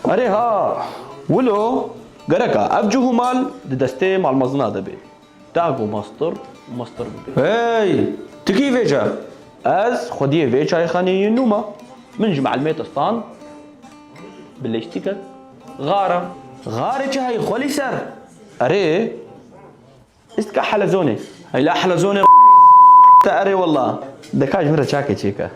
Erê ha, wilo gerek a ev cih û mal di destê malmezina de bê. Dah ku mestur mestur bibe. Hey! Tu kî vê ca? Ez xwediyê vê çayxaneyê yê nû me. Min ji meelmê te stand bi lîstîkek, gar a. Garê çi heyî xwelî ser? Erê! Îstka helezonê. Heyla helezonê te erê wela. Deka ji min re çakê çêke.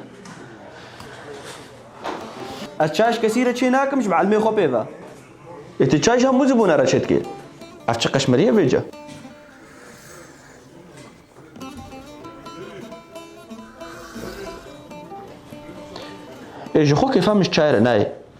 Ez çay ji kesî re çê nakim ji mielmê xwe pê ve. Ê tu çay ji hemû zibûne re çê dikê. Ev çi qeşmerî ye vê ce. Ê ji xwe kêfa min ji çay re nayê.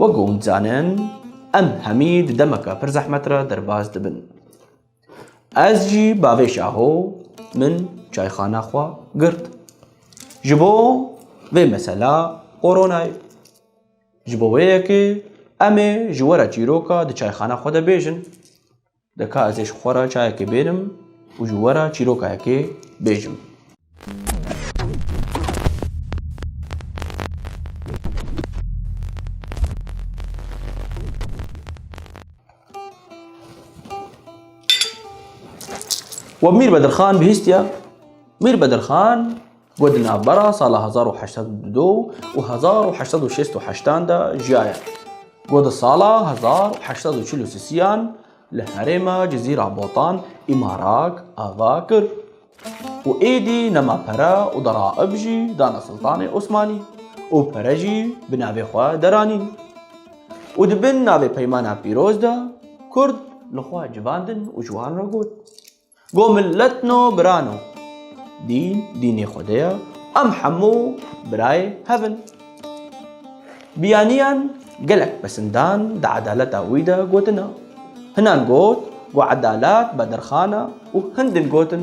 Wek ku hûn dizanin, em hemî di demeke pir zehmet re derbas dibin. Ez jî bavê şaho min çayxana xwe girt. Ji bo vê mesela koronayê. Ji bo wê yekê em ê ji we re çîroka di çayxana xwe de bêjin. Dika ez ê ji xwe re çayekê bêrim û ji we re çîrokayekê bêjim. We Mîr Bedirxan bihîstiye. Mîr Bedirxan. Ku di navbera sala hezar û heşt sed û du û hezar û heşt sed û şêst û heştan de jiyaye. Ku di sala hezar û heşt sed û çil û sisiyan li herêma Cizîra Botan îmarak ava kir û êdî nema pere û deraib jî dana Siltanê Osmanî û pere jî bi navê xwe deranîn û di bin navê Peymana Pîroz de Kurd li xwe civandin û ji wan re got, Go millet no bira no. Dîn dînê Xwedê ye. Em hemû birayê hev in. Biyaniyan gelek pesindan di edaleta wî de gotine. Hinan got go edalet bedirxan e û hin din gotin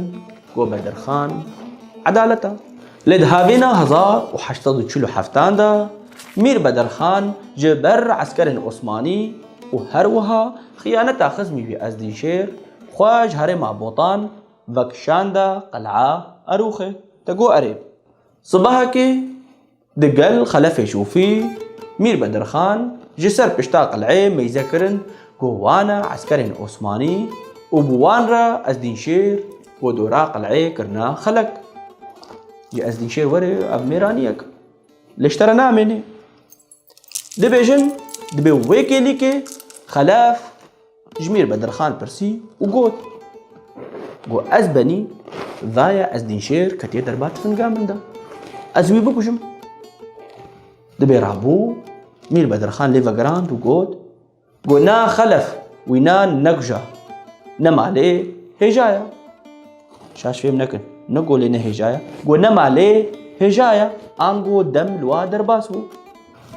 go bedirxan edalet e. Lê di havîna hezar û heşt sed û çil û heftan de Mîr Bedirxan ji ber eskerên Osmanî û her wiha xiyaneta xizmî wî Ezdînşêr Xwe ji herêma Botan vekişanda qeleya Erûxê. Te got erê. Sibehekê di gel xelefê Şûfî, Mîr Bedirxan ji ser pişta qeleyê meyze kirin ku wan e eskerên Osmanî û bi wan re Ezdînşêr û dora qeleyê kirine xelek. Ji Ezdînşêr werê ev mêraniyek li ji te re namênê. Dibêjin dibê wê kêlîkê xelef ji Mîr Bedirxan pirsî û got, Go ez benî dayê Ezdînşêr ketiye derba tifinga min de. Ez wî bikujim. Dibê rabû Mîr Bedirxan lê vegirand û got, Got na xelef wî na nekja. Ne malê hêja ya. Şaş fêm nekin. Ne golê ne hêja ya. Got ne malê hêja ya. Ango dem lwa derbas bû.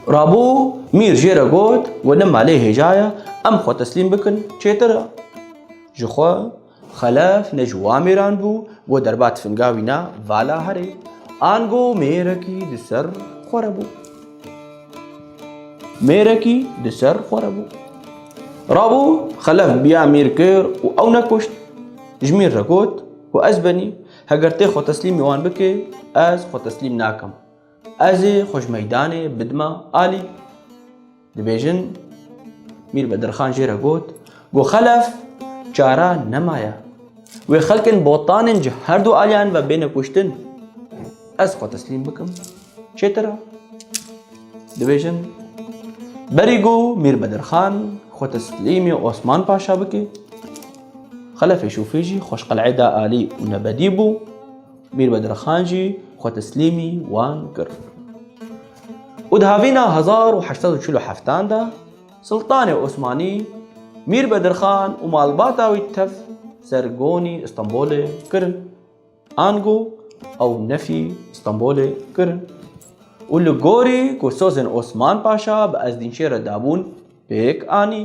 Rabû mîr jê re got we ne malê hêja ya. Em xwe teslîm bikin çêtir e. Ji xwe Xelef ne ji wan mêran bû ku derba tifinga wî na vala herê. Ango mêrekî di ser xwe re bû. Mêrekî di ser xwe re bû. Rabû xelef biya mîr kir û ew nekuşt. Ji mîr re got ku ez benî heger tê xwe teslîmî wan bikê ez xwe teslîm nakim. Ez ê xwe ji meydanê bidima alî. Dibêjin Mîr Bedirxan jê re got, Got xelef çara nemaye. Wê xelkên botanên ji her du aliyan ve bêne kuştin. Ez xwe teslîm bikim çêtir ra. Dibêjin Berî got Mîr Bedirxan xwe teslîmê Osman Paşa bike. Xelefê Şûfê jî xweşqeleyê da alî û nebedî bû. Mîr Bedirxan jî xwe teslîmî wan kir. û di havîna hezar û heşt sed û çil û heftan de Siltanê Osmanî Mîr Bedirxan û malbata wî tev ser gonî Îstanbulê kirin. Ango ew nefî Îstanbulê kirin û li gorî ku sozên Osman Paşa bi Ezdînşê re dabûn pêk anî.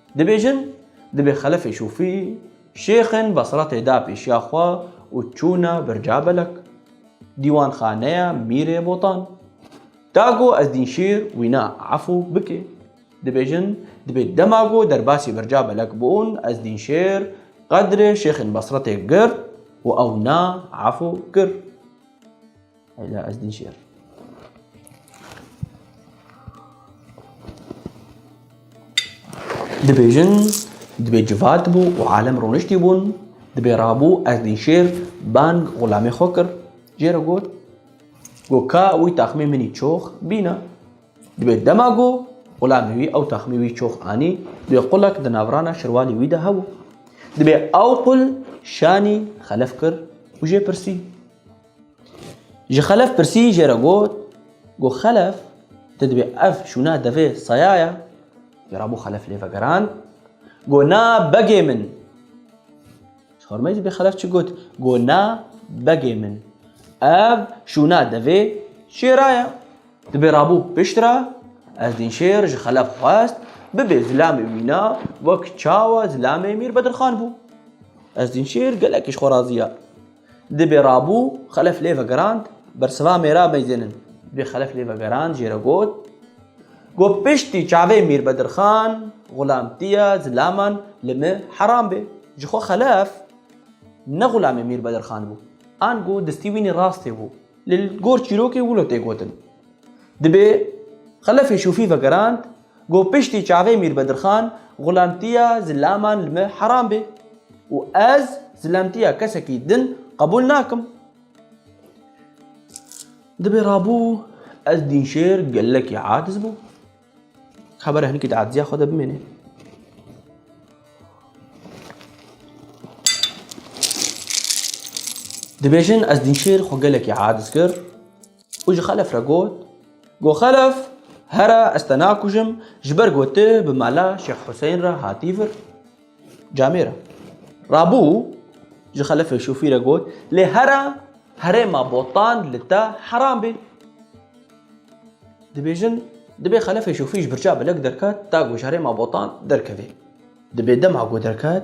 Dibêjin, dibê xelefê şûfî, şêxên Basratê da pêşiya xwe û çûne Bircabelek, dîwanxaneya Mîrê Botan. Da ku Ezdînşîr wîna efû bike. Dibêjin, dibê dema ku derbasî Bircabelek bûn, Ezdînşêr qedrê şêxên Basratê girt û ew na efû kir. Ela ez dîşer. Dibêjin dibê civat bû û alem rûniştî bûn dibê rabû ez dîşêr bang xulamê xwe kir jê re got go ka wî taxmê minî çox bîna dibê dema go xulamê wî ew taxmê wî çox anî dibê qulek di navrana şirwalê wî de hebû dibê ew qul şanî xelef kir û jê pirsî Ji Xelef pirsî jê re got, Got Xelef, tu dibê ev şûna devê saya ye? Jê re bû Xelef lê vegerand, Got na begê min. Ji xormeyê dibê Xelef çi got? Got na begê min. Ev şûna devê şêra ye. Dibê rabû piştre Ezdîn Şêr ji Xelef xwest bibê zilamê wî na wek çawa zilamê Mîr Bedirxan bû. Ezdîn Şêr gelekî ji xwe razî ye. Di bê rabû xelef lê vegerand, bersiva mêra meyzên in. Di bê xelef lê vegerand jê re got, Got piştî çavê Mîr Bedirxan, xulamtiya zilaman li me heram bê. Ji xwe xelef ne xulamê Mîr Bedirxan bû. Ango destî wînî rastê bû. Li gor çîrokê wilo tê gotin. Di bê xelefê şûfî vegerand. Ku piştî çavê Mîr Bedirxan xulamtiya zilaman li me heram bê û ez zilamtiya kesekî din qebûl nakim. Di bê rabû ez dînşêr gelekî aciz bûm. Xebera hinkî di aciziya xwe de bimêne. Dibêjin ez dînşêr xwe gelekî aciz kir û ji xelef re got, Go xelef, here ez te nakujim ji ber ku tu bi mala Şêx Husên re hatî vir. Camê re. Rabû ji xelefê şofî re got, Lê here herêma botan li te heram bê. Dibêjin, dibê xelefê şofî ji birçav belek derket ta ku ji herêma botan derkevê. Dibê dema ku derket,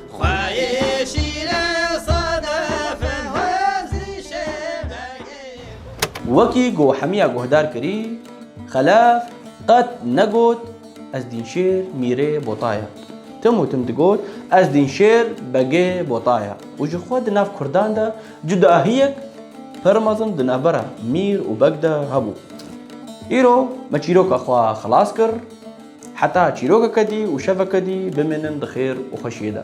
Wekî ku Hemiya guhdar kirî, Xelaf qet negot ez Dînşêr mîrê Bota ye. Tim û tim digot ez Dînşêr begê Bota ye û ji xwe di nav kurdan de cudahiyek pir mezin di navbera mîr û beg de hebû. Îro me çîroka xwe xilas kir. Heta çîrokeke dî û şeveke dî bimînin di xêr û xweşiyê de.